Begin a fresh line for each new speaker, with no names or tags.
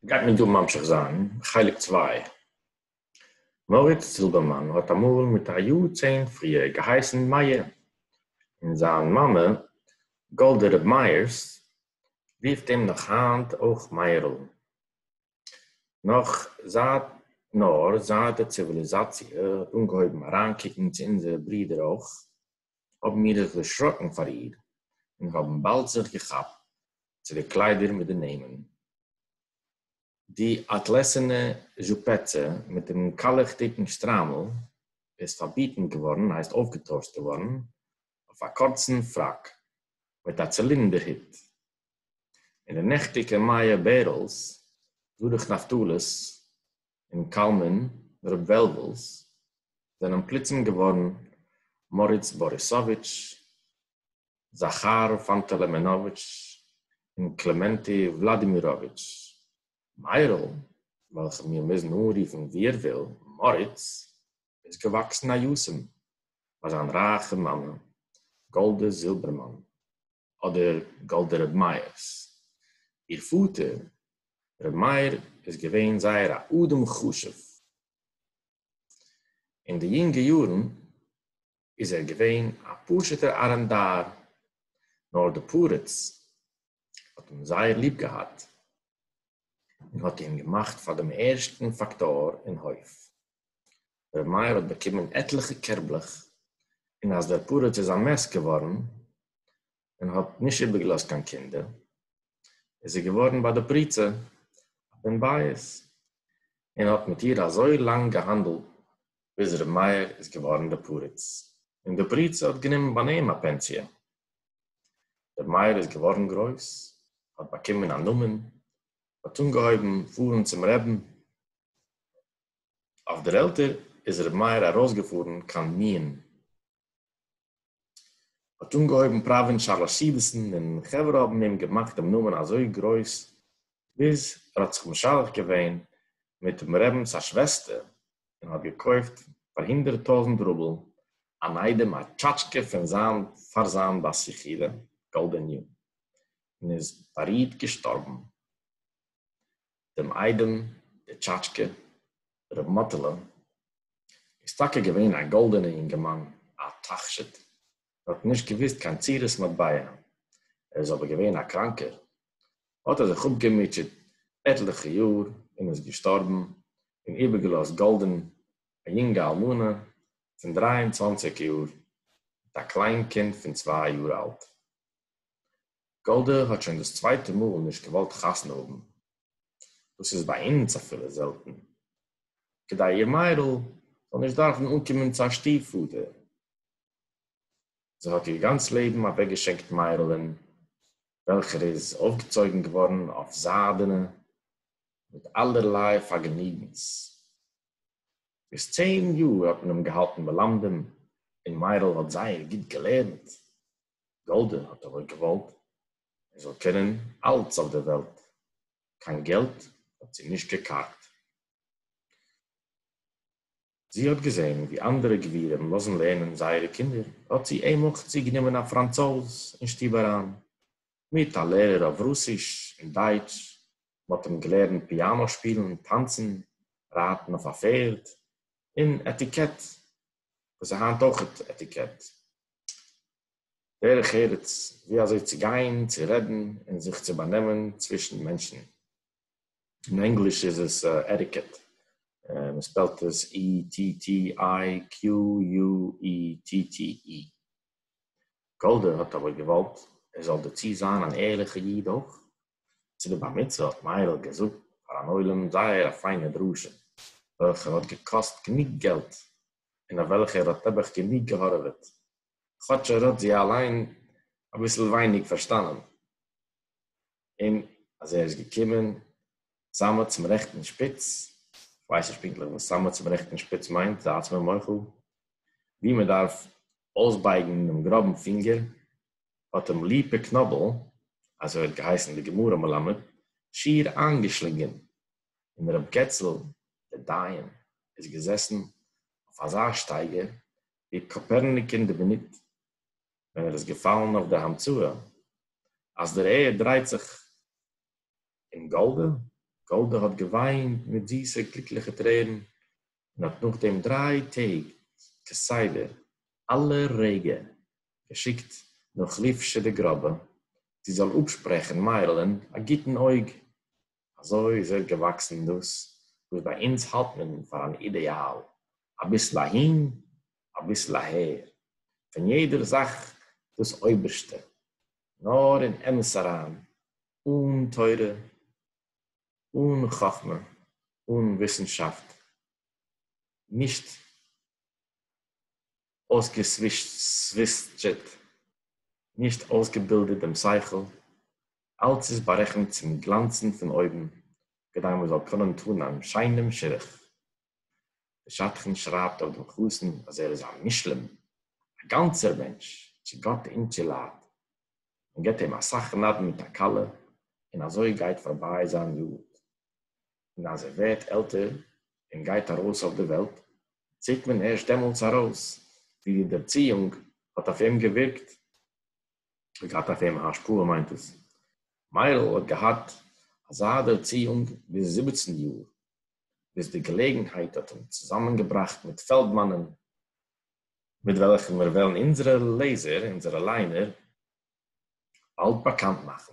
גייט מען דא ממשיך זיין חלק צוויי. מאריץ זילבערמאן האט אמאל מיט א יאר צען פריער געהייסן מאיר, און זיין מאמע גאלדע רב מייערס רופט אים נאך היינט אויך מאיר'ל. נאר זייט די ציוויליזאציע האט אנגעהויבן אריינקוקן צו אונזערע ברידער אויך, האָבן מיר זיך דערשראָקן פֿאַר איר און האָבן באַלד זיך געכאַפּט צו די קליידער מיט די נעמען. די אַטלעסענע זשופּעצע מיט דעם קאַלעכדיקן שטרײַמל איז פֿאַרביטן געוואָרן, הייסט אויפֿגעטוישט געוואָרן אויף אַ קורצן פֿראַק מיט אַ צילינדער-היט, און די נעכטיקע מײַ בערלס דורך נפֿתּליס און קלמן רב וועלוולס זענען פלוצים געווארן מאריץ באריסאוויטש, זאכאר פאנטעלעמענאוויטש און קלעמענטי וולאדימיראוויטש. מאיר'ל, וועלכן מיר מוזן אנרופן ווי ער וויל, מאריץ, איז געוואקסן א יתום ביי זיין רייכע מאמע, גאלדע זילבערמאן. אדער גאלדע רב מאיר'ס. איר פאטער רב מאיר איז געווען זייער א אדם חשוב. אין די יונגע יארן איז ער געווען א פשוטער ארענדאר, נאר די פרדס האט אים זייער ליב געהאט און האט אים געמאכט פאר דעם ערשטן פאקטאר אין הויף. רבי מאיר האט באקומען עטליכע קערבלעך, און אז דער פרץ איז א מעס געווארן, און האט נישט איבערגעלאזט קיין קינדער, איז ער געווארן ביי די פריצה א בן בית, און האט מיט איר אזוי לאנג געהאנדלט, ביז רבי מאיר איז געווארן דער פרץ, און די פריצה האט גענומען ביי אים א פענסיע. רבי מאיר איז געווארן גרויס, האט באקומען א נאמען, האט אנגעהויבן פארן צום רעבן, אויף דער עלטער איז ר' מאיר אַרויסגעפאָרן קיין וויען, האָט אָנגעהויבן פּראַווען שאַלאַשידעסן און חברה האָבן אים געמאַכט דעם נאָמען אַזוי גרויס, ביז ער האָט זיך משדך געווען מיטן רבינס אַ שוועסטער און האָט געקויפט פאַר הונדערט טויזנט רובל אַן איידעם אַ טשאַטשקע פון זיין פאַר זיין בת-יחידה, גאָלדעניו, און איז פאַר איד געשטאָרבן. דעם איידעם, דער טשאטשקע, ר' מאטעלע, איז טאקע געווען א גאלדענער יונגערמאן, א תכשיט, ער האט נישט געוואוסט קיין צורת מטבע, ער איז אבער געווען א קראנקער, האט ער זיך אפגעמוטשעט עטליכע יאר און איז געשטארבן און איבערגעלאזט גאלדען, א יונגע אלמנה פון דריי און צוואנציג יאר, מיט א קליין קינד פון צוויי יאר אלט. גאלדע האט שוין דאס צווייטע מאל נישט געוואלט חתונה האבן, דאס איז ביי אונז אפילו זעלטן, כדי איר מיידל זאל נישט דארפן אנקומען צו א שטיפפאטער, זי האט איר גאנץ לעבן אוועקגעשענקט מאיר'לען, וועלכער איז אויפגעצויגן געווארן אויף זיידענע מיט אלערליי פארגעניגנס, ביז צען יאר האט מען אים געהאלטן מלמדים, און מאיר'ל האט זייער גוט געלערנט, גאָלדען האָט אָבער געװאָלט, ער זאָל קענען אַלץ אױף דער װעלט. קײן געלט האָט זי נישט געקאַרגט. זי האָט געזען, װי אַנדערע גבֿירים לאָזן לערנען זײערע קינדער, האָט זי אײן מאָל צוגענומען אַ פֿראַנצױז אין שטוב אַרײַן, מיט אַ לערער אױף רוסיש און דײַטש. מע האָט אים געלערנט פּיאַנאָ שפּילן, טאַנצן, רײַטן אױף אַ פֿערד און עטיקעט. וואס איז היינט אויך עטיקעט, דרך ארץ, ווי אזוי צו גיין, צו רעדן, און זיך צו באנעמען צווישן מענטשן, אין ענגליש איז עס עטיקעט, מען ספעלט עס ETTIQUETTE. גאלדער האט אבער געוואלט ער זאל דערצו זיין אן ערליכער איד אויך, צו די בר מצוה האט מאיר'ל געזאגט פאר אן עולם זייער א פיינע דרשה וועלכע האט געקאסט גענוג געלט און אויף וועלכע ער האט נעבעך גענוג געהארעוועט כאטש ער האט זי אליין אביסל ווייניג פארשטאנען און אז ער איז געקומען סאמע צום רעכטן שפיץ, איך ווייס נישט פונקטליך וואס סאמע צום רעכטן שפיץ מיינט, זייטס מיר מוחל, ווי מען דארף אויסבייגן דעם גראבן פינגער האט אים ליפא קנאבל, אזוי האט געהייסן די גמרא מלמד, שיער איינגעשלינגען, און רב געצל דער דיין איז געזעסן אויף אזא שטייגער ווי קופערניק אין די מינוט ווען ער איז געפאלן אויף די המצאה אז דער ערד דרייט זיך אום גאלדע, גאלדע האט געוויינט מיט זיסע גליקליכע טרערן און האט נאכדעם דריי טעג כסדר אלע רגע געשיקט נאך ליפשע די גראבע זי זאל אפשפרעכן מאיר'לען א גוטן אויג. אזוי איז ער געוואקסן דאס וואס ביי אונז האלט מען פאר אן אידעאל, אביסל אהין אביסל אהער, פון יעדער זאך דאס אויבערשטע, נאר אין אמת אריין, אן תורה אן חכמה, אן וויסנשאפט, נישט אויסגעסווישטשעט, נישט אויסגעבילדעט דעם שכל, אלץ איז בארעכנט צום גלאנצן פון אויבן, כדי מען זאל קענען טאן א שיינעם שידוך. דער שדכן שרייבט אויף דעם חתן אז ער איז א מושלם, א גאנצער מענטש, צו גאט און צו לייט, מען געבט אים אסאך נדן מיט א כלה, און אזוי גייט פארביי זיין יוגנט, און אז ער ווערט עלטער און גייט ארויס אויף די וועלט, זעט מען ערשט דעמאלטס ארויס ווי די ערציאונג האט אויף אים געווירקט, האט געהאט אויף אים א השפעה מיינט עס. מאיר'ל האט געהאט אזא ערציאונג ביז זיבעצן יאר, ביז די געלעגנהייט האט אים צוזאמענגעבראכט מיט פעלדמאנ'ען, מיט וועלכע מיר וועלן אונזערע לעזער, אונזערע ליינער, באלד באקאנט מאכן.